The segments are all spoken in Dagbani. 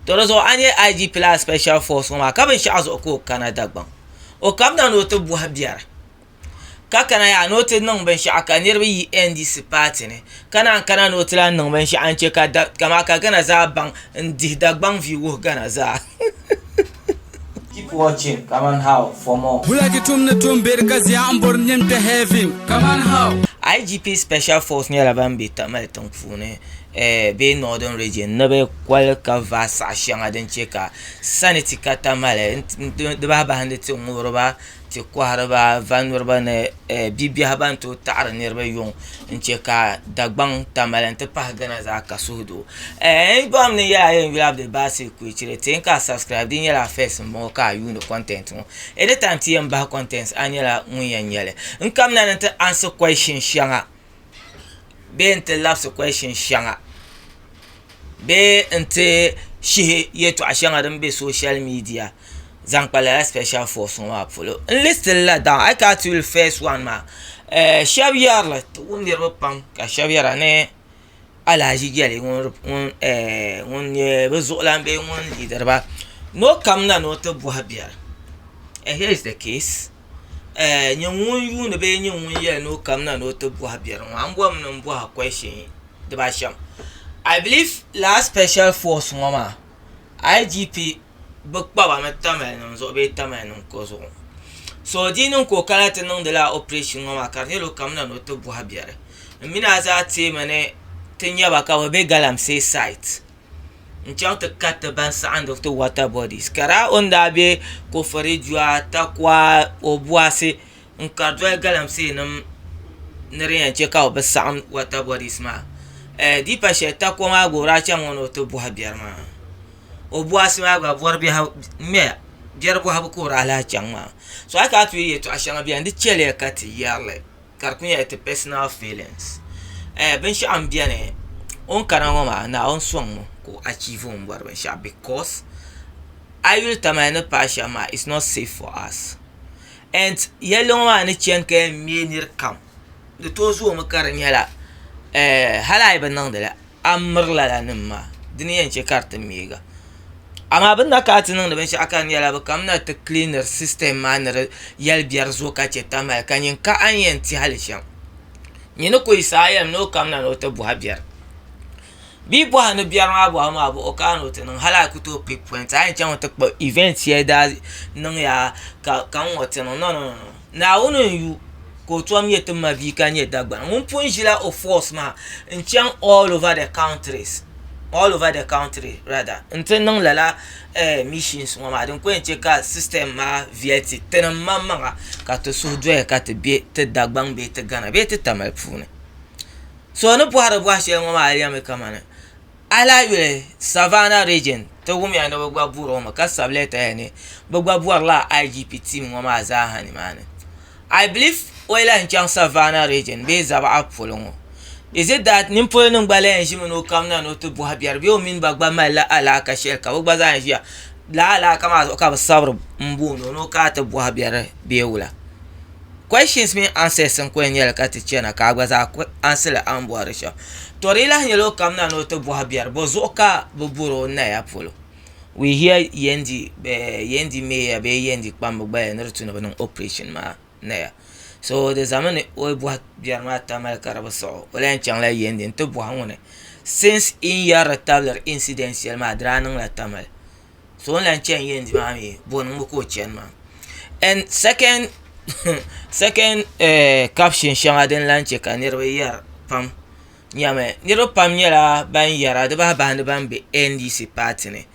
To di zuɣu a ni yɛli IGP la a special force ŋɔ maa ka binshɛɣu zuɣu ka o kana Dagbaŋ o kamina ni o ti bɔhi biɛri ka kana yaha ni o ti niŋ binshɛɣu ka niriba yi NDC paati ni ka naan kana ni o ti lahi niŋ binshɛɣu n-che ka Ghana zaa baŋ n-dihi Dagbaŋ viu wuhi Ghana zaa Keep watching kaman how for more. Bulaki tum ni tum beri ka ziya n bori nim ti heaven kaman how. IGP Special Force nyɛla ban be Tamale tiŋpuuni bee Northern Region ni bɛ koli ka vaai saɣ shɛŋa din chɛ ka saniti ka Tamale n-ti di bahibahindi tiŋŋubiriba ti kɔhiriba vannuriba ni bibiɛhi ban tooi taɣiri niriba yuŋ n-che ka Dagbaŋ tamali nti pahi Ghana zaa ka suhudoo n bɔŋɔ ni yɛla a yɛn yuli Abdulbasi Kwechire ti yɛli ka a subscribe di nyɛla first m-bɔŋɔ ka a yuuni content ŋɔ anytime ti yɛn bahi content a nyɛla ŋun yɛn nya li n kamina ni nti answer question shɛŋa bee n-ti labisi question shɛŋa bee n-ti shihi yɛltɔɣ' shɛŋa din be social media zaŋ kpa lala special force ŋɔ maa polo. N lisitiri la daw a yi kana ti yuli first one maa ɛɛh shɛba yɛri li ti wum niriba pam ka shɛba yɛra ni Alahaji Jali ŋun ɛɛh ŋun nyɛ bɛ zuɣulan bee ŋun leadiri ba ni o kamina ni o ti bɔhi biɛri and here is the case. nyɛ ŋun yuundi bee nyɛ ŋun yɛli ni o kamina ni o ti bɔhi biɛri ŋɔ a ni bɔrimi ni n bɔhi a kɔshin dibaashɛm ai biliv lala spɛshɛl fɔs ŋɔ maa IGP bi kpaba ni tamalinima zuɣu bee tamalinima ko zuɣu so di niŋ ka o kana ti niŋdi lala opirɛshin ŋɔ maa ka di nyɛla o kamina ni o ti bɔhi biɛri m mini a zaa teemi ni ti nya ba ka bɛ be galamsee sait n chaŋ ti kariti ban saɣindi ti water bodies ka daa o ni daa be kofori dua takua obuasi n kari doli galamsee nim ni di yen che ka bɛ bi saɣim water bodies maa dipa sheli takua maa gba o daa chaŋ o ni o ti bohi biɛri maa obuasi maa gba bori biɛhigu ŋmɛya biɛri bohibu ka o daa lahi chaŋ maa so a yi kana ti yuli yeltɔɣa sheŋa beni di cheliya ka ti yerili. ka di kuli nyɛla ti pɛsinal fiilins binshaɣu n biɛni o ni kana ŋo maa naawuni soŋ o ka o achiivi o ni bori binshɛɣu bikos a yi yuli tamali ni paai shɛm maa its not sɛf for as en yɛlli ŋo maa ni chɛni ka yɛn ŋmɛ nirikam di tooi zoomi ka di nyɛla hali a yi bi niŋdili a ni miri lala nim maa di ni yɛn chɛ ka di ti miiga amaa bi ni na kana ti niŋdi binshaɣu ka di nyɛla bi kamina ti kiliniri sistɛm maa ni di yɛli biɛri zuɣu ka chɛ tamali ka nyin ka a ni yɛn tiɛha li shɛm nyin ni ku yi saha yɛlim ni o kamina ni o ti bɔha biɛri bee yi bɔha ni biɛri maa bɔhabu maa bahi o ka a ni o ti niŋ hali a ku tooi pik pɔint a ni yɛn chaŋ ti kpa ivɛnt shɛli daa niŋya ka n ŋɔ ti niŋ nɔnɔnɔnɔ Naawuni n yu ka o tom nyɛ ti mabia ka nyɛ Dagbani ŋun pun ʒila o force maa n chaŋ all over the countries all over the country rather n ti niŋ lala eh missions ŋɔ maa din ko yɛn che ka system maa viɛli ti ti ni maŋ maŋa ka ti suhu doya ka ti be ti Dagbaŋ bee ti Ghana bee ti Tamale puuni so ni bɔhiri bɔhi shɛli ŋɔ maa yɛlimi kamani A lahi yuli Savannah Region ti wumiya ni bɛ gba bɔri o mi ka sabi lɛta ya ni bɛ gba bɔrila IGP team ŋɔ maa zaaha nimaani. I believe o yi lahi chaŋ Savannah Region bee Zabaɣa polo ŋɔ is it that nimpolinim gba lahi ʒimi ni o kamina ni o ti bɔhi biɛri bee o mini ba gba malila alaaka shɛli ka bɛ gba zaa ʒiya lala alaaka maa zuɣu ka bɛ sabiri m-booni o ni o kana ti bɔhi biɛri bee wula. questions mini answers n kuli nyɛli ka ti chɛna ka a gba zaa ku ansili a ni bɔhiri shɛm to di yi lahi nyɛla o kamina ni o ti bɔhi biɛri bɔ zuɣu ka bi bɔri o naya polo we hear Yendi eh, Yendi Meya bee Yendi kpamba gbaya ni di tu ni bi niŋ operation maa naya so di zami ni o yi bɔhi biɛri maa tamali ka di bi siɣi o o lahi yɛn chaŋla Yendi n ti bɔhi ŋuni since yi ni yɛrila tabili incident shɛli maa di daa niŋla tamali so o ni lahi chɛni yɛndi maa mii bɔni n ŋɔ ka o chɛni maa and second second caption shɛŋa din lahi chɛ ka niraba yɛri pam nyɛmi niraba pam nyɛla ban yɛra di bahi bahi ni ban bɛ ndc paati ni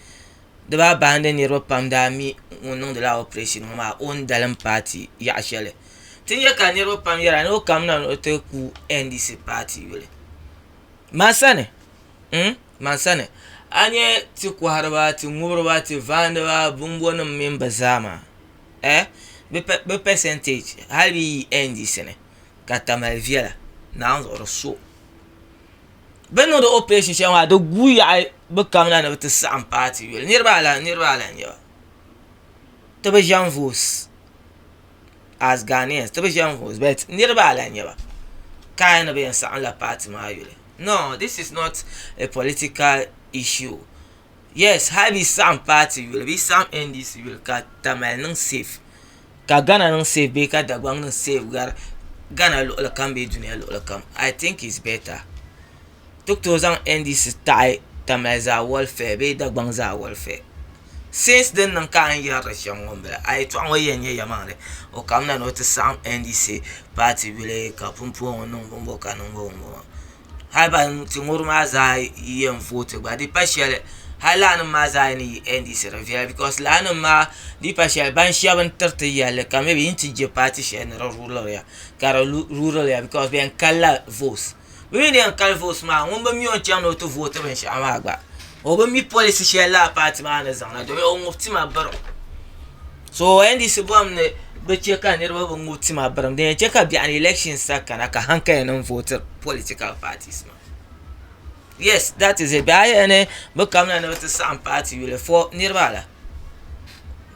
di bahi bahi ni niraba pam daa mi ŋun niŋdila operation ŋɔ maa o ni dalim paati yaɣa shɛli ti nyɛ ka niraba pam yɛra ni o kamina ni o ti ku ndc paati yuli ma sani man sani a nyɛ ti kɔhiriba ti ŋubiriba ti vaaniba bɔmbɔnim mini bɛ zaa maa ɛɛh bɛ pɛsɛnteeji hali bɛ yi yi NDC ni ka tamali viɛla naawuni zuɣu di so bɛ ni niŋdi opirɛshin shɛli maa di guui yaɣi bɛ kamina ni bɛ ti saɣim paati yuli niriba alani niriba alani n-nyɛ ba ti bi ʒɛm voosi as Ghanaians ti bi ʒe n vote but niriba a lahi nyɛba ka a yɛli ni bɛ yɛn saɣim la party maa yuli no this is not a political issue yes hali bɛ yi saɣim party yuli bɛ yi saɣim NDC yuli ka Tamale niŋ safe ka Ghana niŋ safe bee ka Dagbaŋ niŋ safe gari Ghana luɣuli kam bee duniya luɣuli kam I think it's better. ti ku tooi zaŋ NDC taɣi Tamale Zaa Warfare bee Dagbaŋ Zaa Warfare since din niŋ ka a ni yɛri di shɛm ŋɔ m-bala a yɛtɔɣ ŋɔ yɛn nyɛ yɛlimaŋli o kamina ni o ti saɣim NDC paati yuli ka pumpɔŋɔ niŋ bɔmbɔ ka niŋ bɔmbɔ hali ban ti ŋɔri maa zaa yɛn vooti gba di pa shɛli hali laanima maa zaa ni yi NDC di viɛla bikɔs laanima maa di pa shɛli ban shɛba n-tiri ti yɛlli ka mɛbi yi ni ti je paati shɛli ni di ruuliri ya ka di ruuliri ya bikɔs bɛ yɛn kali la voos Bɛ mi ni yɛn kali vooti maa ŋun bi mi o ni chaŋ ni o ti vooti binshɛɣu maa gba o bi mi pɔlisi shɛli lala paati maa ni zaŋ na domin o ŋub tima birim so NDC bɔhim ni bɛ chɛ ka niriba bi ŋub tima birim din yɛn chɛ ka biɛɣuni ni ilɛshin sa kana ka hankali nim vooti pɔlitikal paatis maa yɛs dat iz it bɛ a yɛli ni bɛ kamina ni bɛ ti saɣim paati yuli fo niriba ala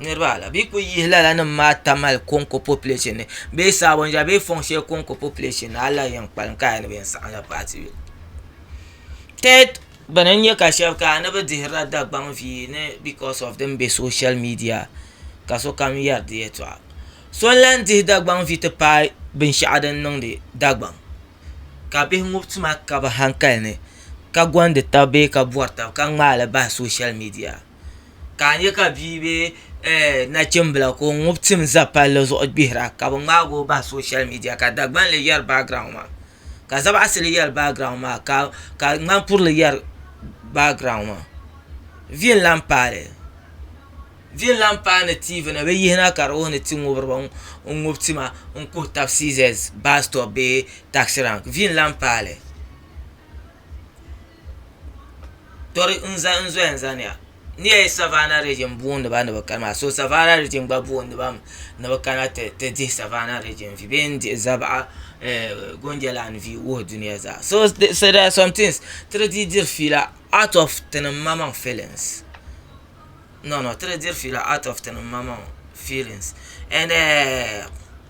niriba ala bɛ kuli yihi lala nim maa tam hali koŋko population ni bee sabonja bee fɔŋ shɛli koŋko population ni hali la yɛn kpalim ka di yɛn niŋ bɛ yɛn saɣim la paati bɛ tɛd bɛni n nyɛ ka shɛbi kana ni bɛ dihiri la Dagbaŋ vii ni because of din be social media ka sokam yɛri di yɛltɔɣa so n lan dihi Dagbaŋ vii ti paai binshɛɣu din niŋdi Dagbaŋ ka bihi ŋɔ tuma ka bɛ hankali ni ka gondi taba bee ka bɔri taba ka ŋmaai li bahi social media ka a nya ka bia bee nachimbila ka o ŋub tim za palli zuɣu gbihira ka bɛ ŋmaag o bahi sooshal miidiya ka Dagbanli yɛri baagiraun maa ka Zabaɣisili yɛri baagiraun maa ka Ŋmankurili yɛri baagiraun maa vi n-lan paai vi n-lan paai ni tiivi ni bɛ yihina ka di wuhi ni ti ŋubiri ba n-ŋub tima n-kuhi tab siizɛs baasitɔpu bee taɣisiraŋki vi n-lan paai li Tɔri n zaya n zɔya zani ya n ni yɛli savana rijiŋ n boondi ba ni bi kani maa so savana rijiŋ gba boondi ba mi ni bi kana ti dihi savana rijiŋ vi bee n dihi zabaɣa goonje lan vi wuhi duniya zaa so dɛr ar sɔm tins ti di dii diri fiila aat ɔf tinim ma maŋ filins nɔnɔ ti di diri fiila aat ɔf tinim ma maŋ filins ɛɛn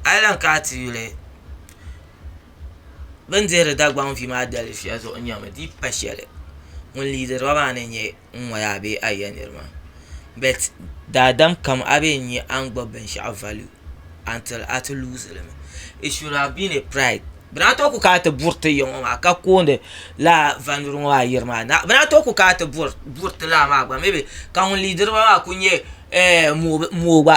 a yi lan kana ti yuli. bi ni dihiri dagbaŋ vi maa dalifiya zuɣu n nyɛmi di yi pa shɛli ŋun liidiriba maa ni nyɛ n ŋɔ yaa bee a yi yɛn niri maa bɛt daadam kam a bee n nya a ni gbubi binshɛɣu valiyu a ni tiri a ti luuzili mi it shud hav bin e praid bɛ daa too ku kana ti buri ti ya ŋɔ maa ka koondi lala valiyu ŋɔ maa yiri maa bɛ daa too ku kana ti buri ti lala maa gba mi bi ka ŋun liidiriba maa ku nyɛ mooi gba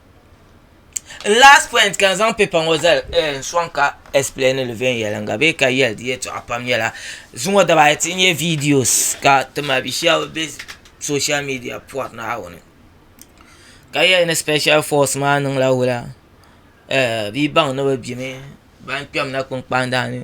N last point ka n zaŋ paper ŋɔ zali eh, n sɔŋ ka explain li viɛnyɛliŋga bee ka yɛli di yɛltɔɣa pam nyɛla zuŋɔ daba ayi ti nyɛ videos ka ti mabi shɛba be social media pɔri Naawuni ka yɛli ni special force maa niŋla wula eh bɛ yi baŋ ni bɛ gbimi ban kpɛm na kpunkpani daa ni.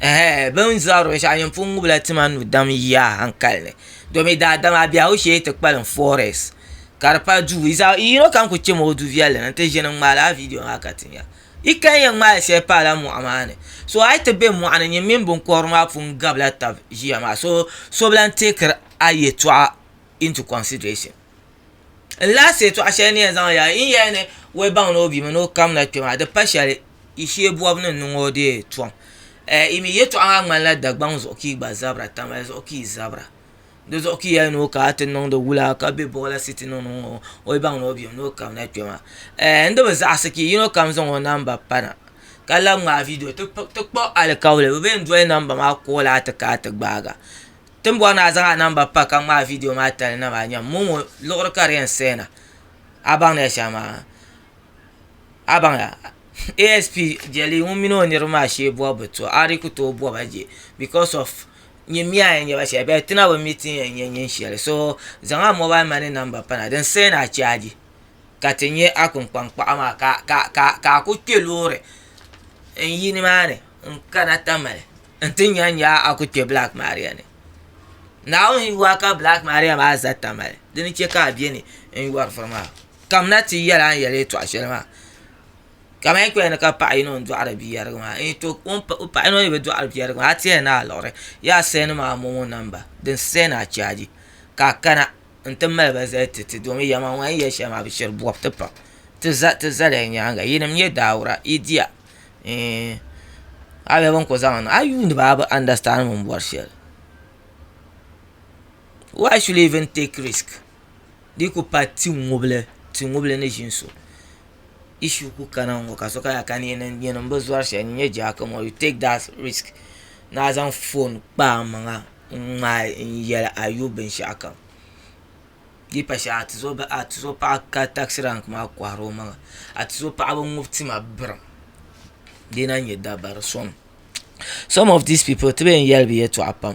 Ɛhɛɛ! Bɛ ni zɔri binshɛɣu yin pun ŋubila tima nu dam yiya a hankali ni. Domi daadam a biɛhigu shee ti kpalim forest ka di pali duu. Yi zaɣ yino kam ku chɛmi o du viɛlli ni nti ʒini n-ŋmaai lala vidio maa ka ti nya. Yi kali yɛn ŋmaai shɛli pa lala mɔɣu maa ni. So a yi ti be mɔɣu ni nyin mini biŋkɔbiri maa pun gabila tab ʒiya maa so so bi lan teekiri a yɛtɔɣa into consideration. N last yɛtɔɣ shɛli ni yɛn zaŋ yaa yi ni yɛli ni wɛbaŋ ni o bi mini o kamina kpe maa di pa shɛli. I shee bɔbu ni niŋ o deei tɔm. Ɛɛ, i mi yɛtɔɣa maa ŋmanila Dagbaŋ zuɣu ka yi gba zabira, Tamale zuɣu ka yi zabira. Di zuɣu ka yɛli ni o ka a ti niŋdi wula ka be Bɔgila City niŋ niŋ ŋɔ, o yi baŋ ni o bem ni o kabina kpe maa. Ɛɛ, n di bi zaɣisi ka yino kam zaŋ o namba pa na ka labi ŋmaai vidio ti ti kpuɣi alikauli. Bɛ bee n-doli namba maa kooli a ti ka a ti gbaag a. Ti ni bɔri ni a zaŋ a namba pa ka ŋmaai vidio maa tali na maa, nyam, momo liɣiri ka di yɛn saya na. A baŋ ni ya shɛm maa? abaŋya asp jeli ŋun mini o niriba maa shee bobi bɛ to a di ku tooi boba je because of nyin miya n-yɛn nyɛba shɛli bɛ ti na bi mi ti yɛn nyɛ nyin shɛli so zaŋ a mobile money number pana din send a charge ka ti nyɛ a kpunkpani kpaɣu maa ka a ku kpe loori n yi ni maa ni n kana Tamale n ti nya nya a ku kpe black maria ni naawuni yuli a ka black maria maa za Tamale dini che ka a beni n yɔri furi maa. Kamina ti yɛli a ni yɛli yɛtɔɣ shɛli maa. Ka mani kpɛya ni ka paɣ yino n-dɔɣiri biyɛrigu maa n-yi tooi kum o paɣ yino ni bi dɔɣiri biyɛrigu maa a tɛya ni a liɣiri yaa sɛndi ma a mɔmo namba din sɛn a chaaji ka a kana n-ti mali ba zali ti ti domin ya maa ŋun a ni yɛli shɛli maa bi shiri bɔbu ti pam ti za ti zali a nyaaŋa yinim nyɛ daawura yi diya ɛɛn a yɛli bini kuli zaŋ niŋ a yuuni ba a bi andasitandi bini bɔri shɛli why should you even take risk. di ku pa tiŋubili tiŋubili ni ʒini so issue ku kana n ŋɔ ka sokam yaa ka n yɛn niŋ bi zɔri shɛli n nyɛ jaara kama you take that risk ni a zaŋ foon kpa a maŋa n ŋmaai n yɛli a yu binshaɣu kam di yi pa shɛli a tuzo paɣa ka taksi rank maa kohari o maŋa a tuzo paɣa bi ŋubi tima birim di yi lahi nyɛ dabari soŋ some of these people ti bi yɛn yɛli bi yɛltɔɣa pam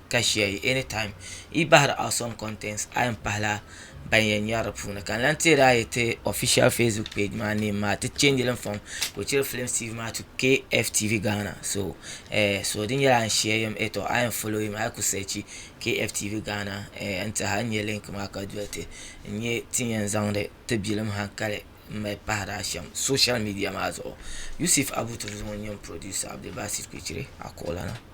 ka ʒiya yi any time yi bahiri out some contents a yɛn pahila ban yɛn nyari di puuni ka n lan teeri a yi ti official facebook page maa name maa ti change li n-fɔŋ ka o chiri films tv maa to KFTV Ghana so eh, so di nyɛla a ni share yam eh tɔ a yɛn follow yim a yi ku search KFTV Ghana eh n tiɛha n nya link maa ka doli ti n nya ti ni yɛn zaŋdi ti bilim hankali n mali pahiri a shɛm social media maa zuɣu Yusuf Abu Turizim ŋun nyɛ m producer Abdulbasit Kpichiri a kuɣulana.